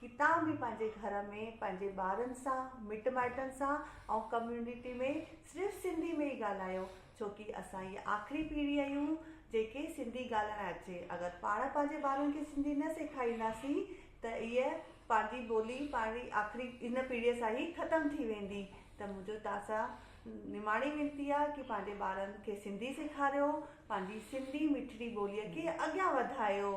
ڪتان به پنهنجي گهر ۾ پنهنجي ٻارن سان مٽ مائٽن سان ۽ ڪميونٽي ۾ صرف سنڌي ۾ ئي ڳالهايو ڇو ڪي اسان اهي آخري پيڙهي اهيون جنهن کي سنڌي ڳالهائڻ اچي اگر پاڻ پنهنجي ٻارن کي سنڌي نه سيکارينداسين ته اهي پنهنجي ٻولي پنهنجي آخري ان پيڙهي سان ئي ختم ٿي ويندي ته منهنجو توهان سان نماڻي وينتي آهي ڪي پنهنجي ٻارن کي سنڌي سيکاريو پنهنجي سنڌي مٺڙي ٻولي کي اڳيان وڌايو.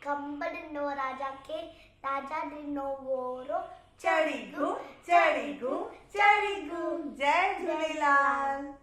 کنڀ ڏنو راجا کي، راجا ڏنو وورو. چڙي گون چڙي گون چڙي گون جئي جھوليلال.